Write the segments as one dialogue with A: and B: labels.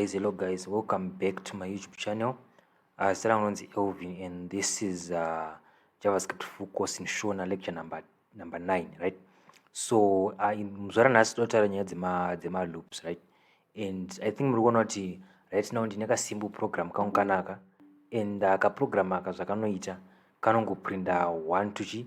A: guys hello guys welcome back to my youtube channel uh, zita rangu nonzi elvin and this is uh, javascript full course in shona lecture number, number 9 right so uh, muzvara nhasi totaura nyaya dzemaloops right and i think muri kuona kuti right now ndine kasimbu program kangu kanaka and uh, kaprogram aka zvakanoita kanongoprinda one to chi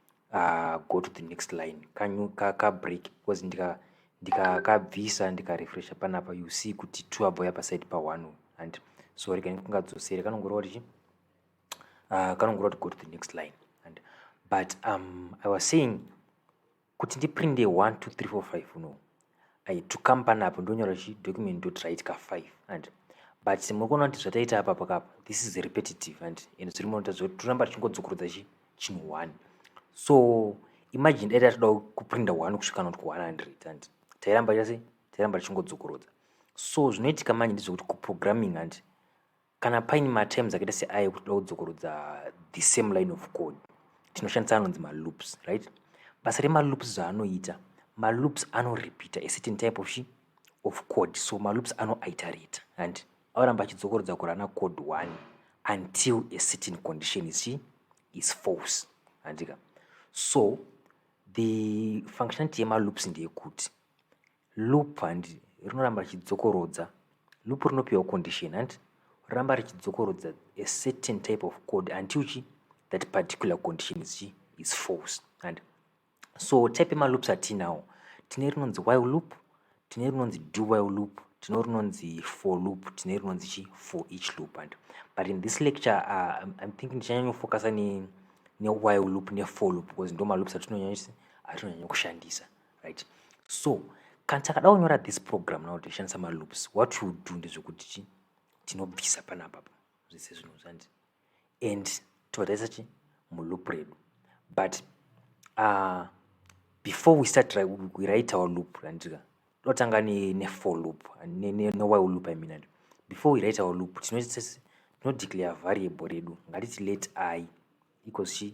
A: uh, go to the next line kanyu kakabreak because ndika ndikakabvisa ndikarefresha panapa you see kuti two abhoya paside paone and sorry kani kungadzosere kanongoreva kuti uh, kanongoreva kuti go to the next line and but um, i was saying kuti ndiprinde 1 2 3 4 5 no I, to come panapo ndonyora chi document dot write ka 5 and but muri kuona kuti zvataita apa pakapa this is repetitive and and zviri munoita zvekuti toramba tichingodzokorodza chi chinhu one so imagine dai tatoda kuprinda one kusvika not ku 100 and tairamba chase tairamba tichingodzokorodza so zvinoitika manje ndezvekuti kuprogramming and Kana paine materms akaita seayo ekuti toda kudzokorudza the same line of code tinoshandisa anonzi maloops right basa remaloops zvaanoita maloops anorepeata a certain type of shi of code so maloops anoiterate and anoramba achidzokorodza kurana code one until a certain condition is shi is false handika so the functionality yemaloops ndeyekuti loop handi rinoramba richidzokorodza loop rinopiwa condition handi ramba richidzokorodza a certain type of code until chi that particular condition is chi is false and so type emaloops atinawo tine rinonzi while loop tine rinonzi do while loop tine rinonzi for loop tine rinonzi chi for each loop and but in this lecture uh, i'm thinking tichanyanyofocusa ne, ne while loop ne for loop because ndo maloops atinonyanya kushandisa right so kana takada kunyora this program now tichishandisa maloops what you do ndezvekuti chi tinobvisa panapa pa zvese zvinhu zvandi and totarisa chi muloop redu but uh, before we start right, we write our loop randika totanga nefor ne loop newhile ne, loop i mean before we write our loop tinodeclare variable redu ngatiti let i equals chi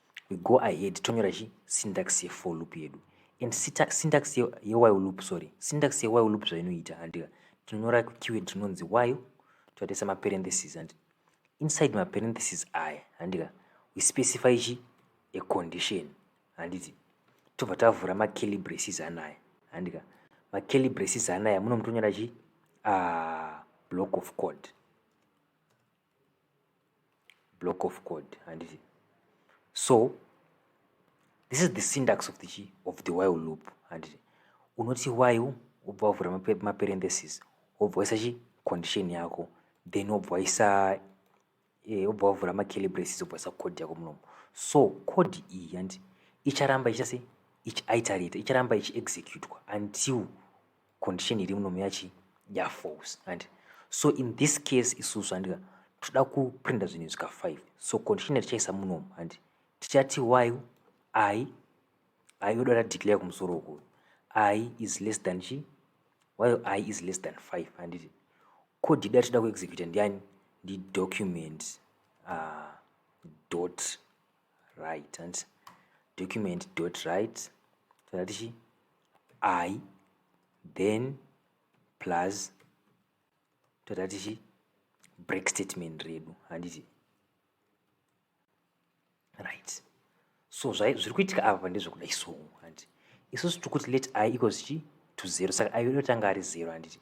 A: we go ahead tonyora chi syntax yefor loop yedu and syntax yewhile loop sorry syntax yewhile loop zvainoita handika tinonyora kukeyword tinonzi while toatesa maparenthesis handi inside maparenthesis aya handika we specify chi a condition handiti tobva tavhura makelly braces anaya handika makelly braces anaya muno mutonyora chi ah, block of code block of code handiti so this is the syntax of the chi of the while loop handiti unoti while wobva wavhura maparenthesis wobva waisa chi condition yako then wobva waisa eh, wobva wavhura macalibrasis wobva waisa code yako munomo so code iyi handiti icharamba ichita sei ichiitarita icharamba ichiexecutwa until condition iri muno yachi ya false and so in this case isusu handika toda kuprinda zvinhu izvika 5 so condition yatichaisa munomu handi tichati while i i yoda tadeclare kumusoro uku i is less than chi while i is less than 5 handiti code yedu yatida kuexecuta ndiyani ndi document uh, dot right handiti document dot right toda tichi i then plus tata tichi break statement redu handiti right so zviri kuitika apa ndezvekudai so handi isusu tiri kuti let i equals chi to zero saka i inotanga ari zero handiti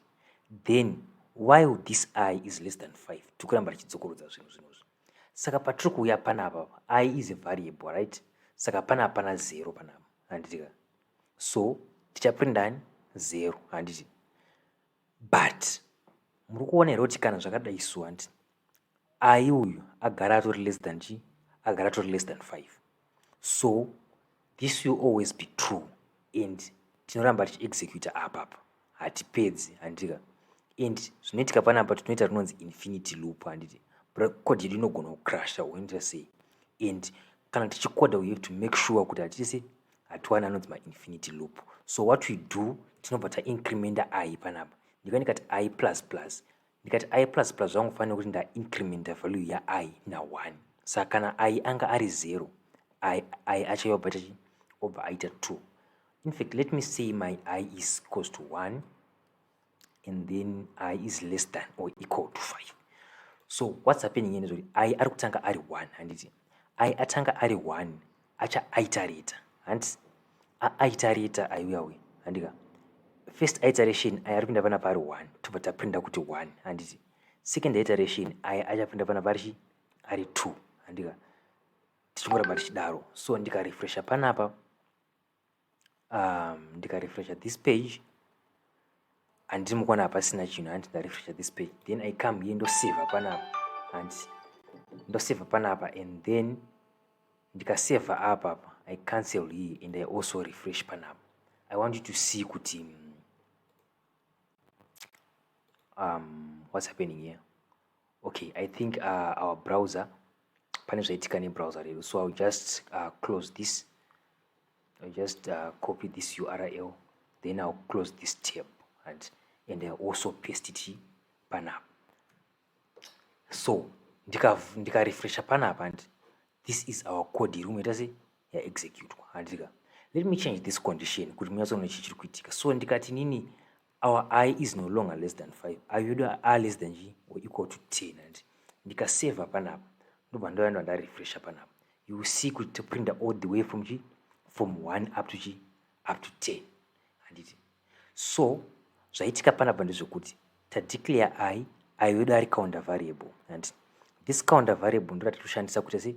A: then while this i is less than five tiri kuramba tichidzokorodza zvinhu zvinozvi saka patiri kuuya panapa i is a variable right saka pana hapana zero panapa handitika so tichaprinda ani zero handiti but muri kuona here kuti kana zvakadai so hanti ayi uyu agara atori less than chi agara atori less than five so this will always be true and tinoramba tichiexecuta apapa hatipedzi handika and zvinoitika panapa tinoita rinonzi infinity loop handiti code yedu inogona kucrasha woinita sei and kana tichikoda we have to make sure kuti hatisi hatiwani anonzi mainfinity loop so what we do tinobva taincrementa i panapa ndika ndikati i plus plus ndikati i plus plus zvangofanira kuti ndaincrementa value yai naone saka kana i anga ari zero i i acho yobva tachi obva aita two in fact let me say my i is equals to one and then i is less than or equal to 5 so what's happening ine zvoti i ari kutanga ari 1 handiti i atanga ari 1 acha aitareta hanti aitareta aiuya uye handika first iteration aya ari kuinda pana pari 1 tobva taprinda kuti 1 handiti second iteration aya achapinda pana pari ari 2 handika tichingoramba tichidaro so ndikarefresha panapa um, ndikarefresha this page handiti mukuona hapasina chinhu hanti ndarefresha this page then i come here ndoseva panapa hanti ndoseva panapa and then ndikaseva apa apa i cancel here and i also refresh panapa i want you to see kuti mm, um, what's happening here okay i think uh, our browser pane zvaitika nebrowser redu so iwill just uh, close this iwill just uh, copy this url then iwill close this tab and, and uh, also paste it panapa so ndikarefresha panapa and this is our code iri unoita se yaexecutwa handika let me change this condition kuti munyatsoona chi chiri kuitika so ndikati nini our i is no longer less than 5 ayo yedu a less than g or equal to 10 and ndikaseva panapa ndobva ndoyanda ndarefresha panapa you will see kuti toprinda all the way from g from 1 up to g up to 10 handiti so zvaitika panapa ndezvekuti tadeclare i ayo yedu ari counter variable and this counter variable ndoratitoshandisa kuita sei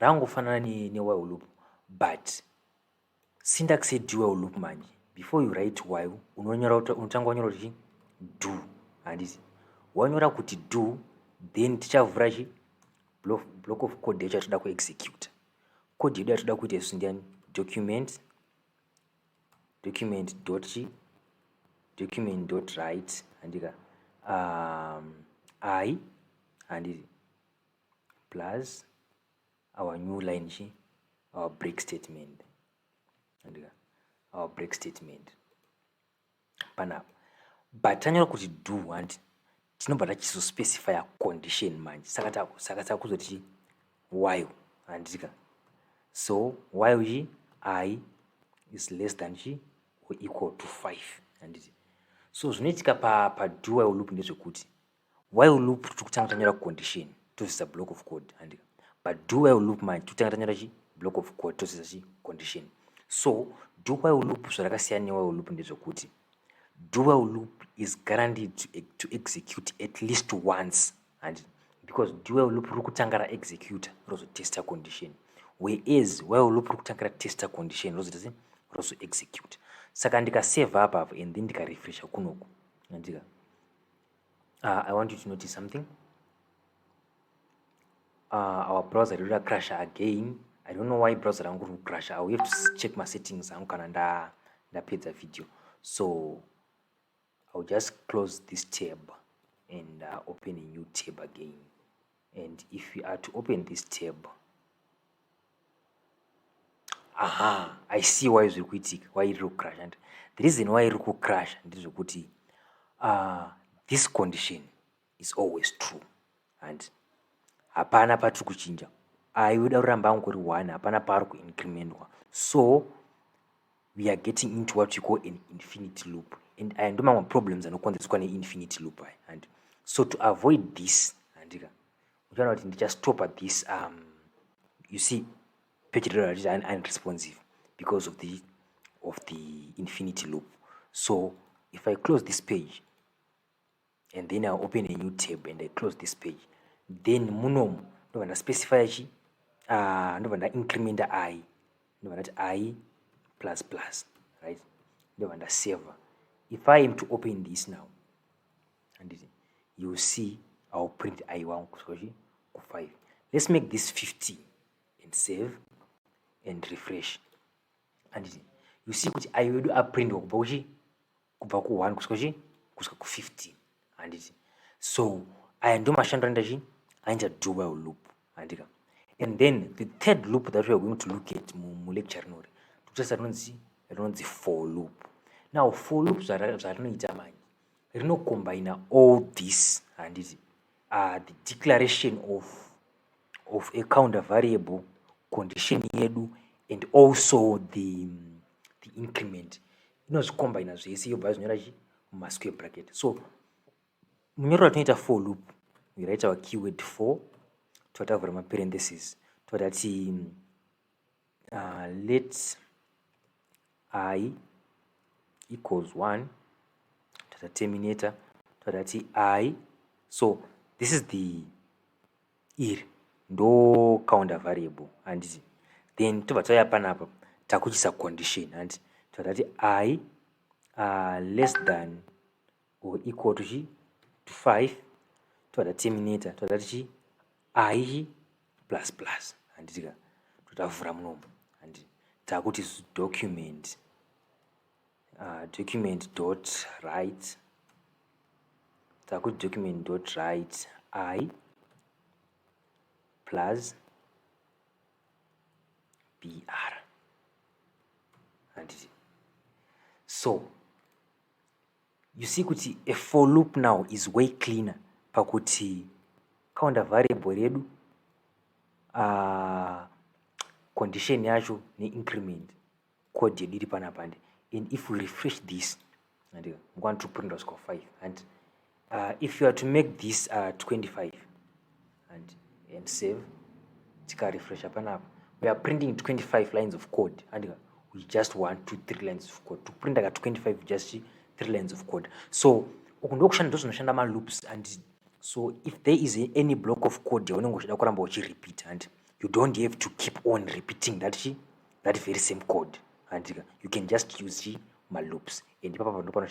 A: rangofanana ne, ne while loop but syntax ye do while loop manje before you write while unonyora unotanga wanyora kuti do handiti wanyora kuti do then tichavhura chi block of code yacho yatoda kuexecute code yedu yatoda kuita isu ndiani document document dot chi document dot write handika um, i handiti plus our new line chi our break statement andika our break statement panapa but tanyora kuti do hanti tinobva tachizospecifya condition manje saka saka takuzoti chi while handika so while chi i is less than chi or equal to five handiti so zvinoitika pa, pa dual loop ndezvekuti while loop tiri kutanga tanyora condition tozivisa block of code handi but do while loop manje tiri kutanga tanyora chi block of code tozivisa chi condition so do while loop zvarakasiyana newhile loop ndezvekuti do while loop is guaranteed to, e-, to execute at least once handi because do while loop riri kutanga raexecuta rozotesta condition whereas while loop riri kutanga ratesta condition rozoita sei rozoexecuta saka ndikasave apa apa and then ndikarefresha kunoku andika uh, i want you to notice something uh, our browser riri crasha again i don't know why browser rangu riri crasha i will have to check masettings angu kana nda ndapedza video so i will just close this tab and uh, open a new tab again and if we are to open this tab aha i see why zviri kuitika why iri kucrash and the reason why iri kucrash ndezvekuti uh, this condition is always true and hapana patiri kuchinja ayoda ah, kuramba angu kuri one hapana paari kuincrementwa so we are getting into what you call an infinity loop and aya ndo mamwe problems anokonzereswa neinfinity loop aya handi so to avoid this handika uchiona kuti ndichastopa this um, you see page rero ratiti unresponsive because of the of the infinity loop so if i close this page and then I'll open a new tab and I close this page then munomu ndobva ndaspecifya chi ah, ndobva ndaincrementa i ndobva ndati i plus plus right ndobva ndaseva if i am to open this now handiti you see iwill print i wangu kusvika chi ku5 let's make this 15 and save and refresh handiti you see kuti i wedu aprintwa kubva kuchi kubva ku1 kusvika chii kusvika ku15 handiti so aya ndio mashandiro anoita chii anoita do while loop handika and then the third loop that weare going to look at mulecture rinori tokutarisa rinonzi rinonzi for loop now for loop zvarinoita mani rinokombaina all this handiti uh, the declaration of, of a counter variable condition yedu and also the, the increment inozvikombaina zvese yobva yazvinyora chi mumasquare bracket so munyorero ratinoita for loop raitawa keyword for totavhura maparenthesis totati uh, let i equals one tata terminator totati i so this is the iri ndo counter variable handiti then tobva tauya panapa takuchisa condition handiti totati i uh, less than or equal to chi to 5 toda terminator toda tichi i chi plus plus handiti ka totavhura munomo handiti takuti document uh, document dot right takuti document dot right i plus br handiti so you see kuti a for loop now is way cleaner pakuti kaunda variable redu uh, condition yacho neincrement code yedu iri panapa handi and if we refresh this handi mukwana tiri kuprinda kusvika 5 handi uh, if you are to make this uh, 25 handi and save tikarefresha panapa we are printing 25 lines of code handi we just want to three lines of code tikuprinta ka 25 just three lines of code so uku ndokushanda ndozvinoshanda maloops and so if there is any block of code yaunenge uchida kuramba uchirepeat handi you don't have to keep on repeating that chi that very same code handika you can just use chi maloops and ipapa pano panoshanda